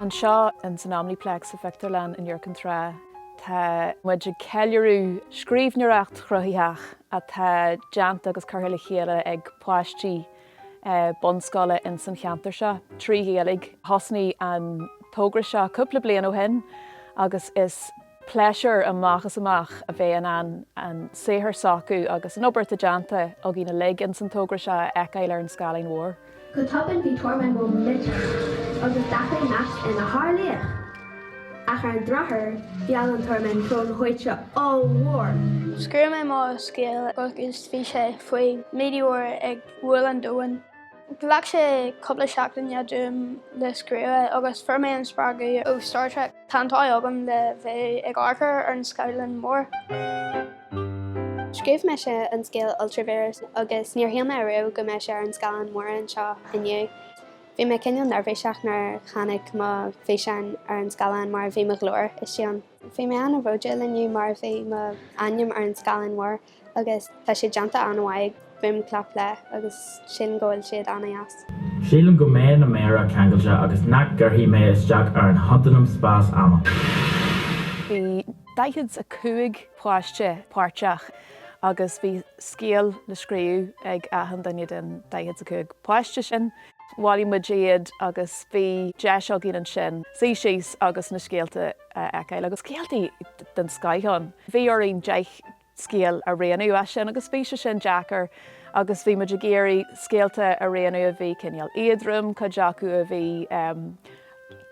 Anseo in san Omniplex sa phictiúrlann in Iúr Cinn Trá, tá muid ag ceiliúradh scríbhneoireacht chruthaitheach atá déanta agus curtha le chéile ag páistí bunscoile in san cheantar seo trí Ghaeilge. Thosnaigh an togra seo cúpla bliain ó shin agus is. Pléisiúr amach is amach a bheith in ann an saothar s'acu agus an obair atá déanta againn uilig ins an togra seo a fheiceáil ar an scáileán mhór. Go tobann bhí tormán mór millteach agus d'athraigh Max ina shárlaoch. Ach ar an drochuair mheall an tormán srón dhóite ollmhór. Scríobh mé mo scéal agus bhí sé faoi meteor ag bualadh an domhan. Ghlac sé cúpla seachtaine dom le scríobh é agus fuair mé an spreagadh ó Star Trek. Tá an t-ádh agam le bheith ag amharc ar an scáileán mór. Scríobh mise an scéal Ultravíreas agus níor shíl mé ariamh go mbeadh sé ar an scáileán mór anseo inniu. Bhí mé cineál neirbhíseach nuair a tháinig mo físeán ar an scáileán mar bhí mo ghlór istigh ann. Bhí mé an-bhródúil inniu mar bhí mo ainm ar an scáileán mór. agus tá sé déanta an-mhaith ag Boom Clap Play agus sílim go bhfuil siad an-deas. Sílim go mbeidh na méara ceangailte agus nach gcuirfidh mé isteach ar an chontanam spás-ama. Bhí 45 páiste páirteach agus bhí scéal le scríobh ag achan duine den 45 páiste sin. bhailigh muid iad agus bhí deis againn ansin suí síos agus na scéalta a fheiceáil agus scéalta den scoith ann. Bhí orainn deich scéal a roghnú as sin agus bhí sé sin deacair agus bhí muid ag iarraidh scéalta a roghnú a bhí cineál éadrom, cuid acu a bhí.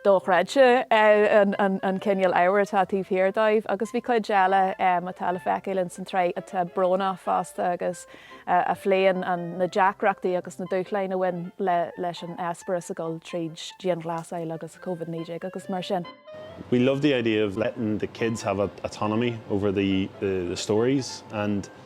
dochreidte an cineál ábhair atá taobh thiar dóibh agus bhí cuid eile atá le feiceáil ins an tsraith atá brónach fosta agus a phléann na deacrachtaí agus na dúshláin a bhain leis an eispéireas a dhul tríd dianghlasáil agus Covid 19 agus mar sin. we love the idea of letting the kids have autonomy over the the stories and.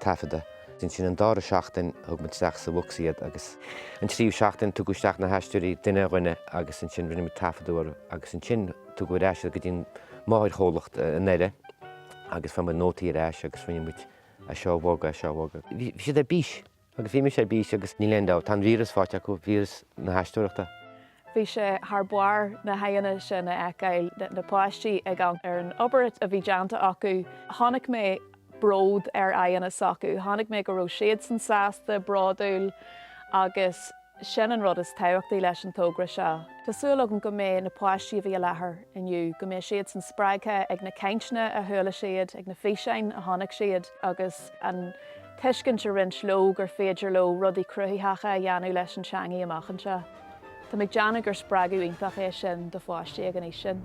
taifeadadh. Ansin an dara seachtain thug muid isteach sa bhosca iad agus an tríú seachtain tugadh isteach na haisteoirí duine ar dhuine agus ansin rinne muid taifeadadh orthu agus ansin tugadh ar ais iad go dtí an máthairchomhlacht in Éire agus fuair muid nótaí ar ais agus rinne muid é seo a bhogadh, é seo a bhogadh. Bhí siad ar bís agus bhí mise ar bís agus níl aon dabht, tá an víreas faighte acu, víreas na haisteoireachta. Bhí sé thar barr na haghaidheanna sin a fheiceáil, na páistí ag amharc ar an obair a bhí déanta acu. Chonaic mé bród ar aghaidheanna s'acu, chonaic mé go raibh siadsan sásta, bródúil agus sin an rud is tábhachtaí leis an togra seo. Tá súil agam go mbeidh na páistí a bhí i láthair inniu, go mbeidh siadsan spreagtha ag na cainteanna a chuala siad, ag na físeáin a chonaic siad agus an tuiscint a roinneadh leo gur féidir leo rudaí cruthaitheacha a dhéanamh leis an teangaidh amach anseo. Tá mé ag déanamh gur spreagadh iontach é sin do pháistí ag an aois sin.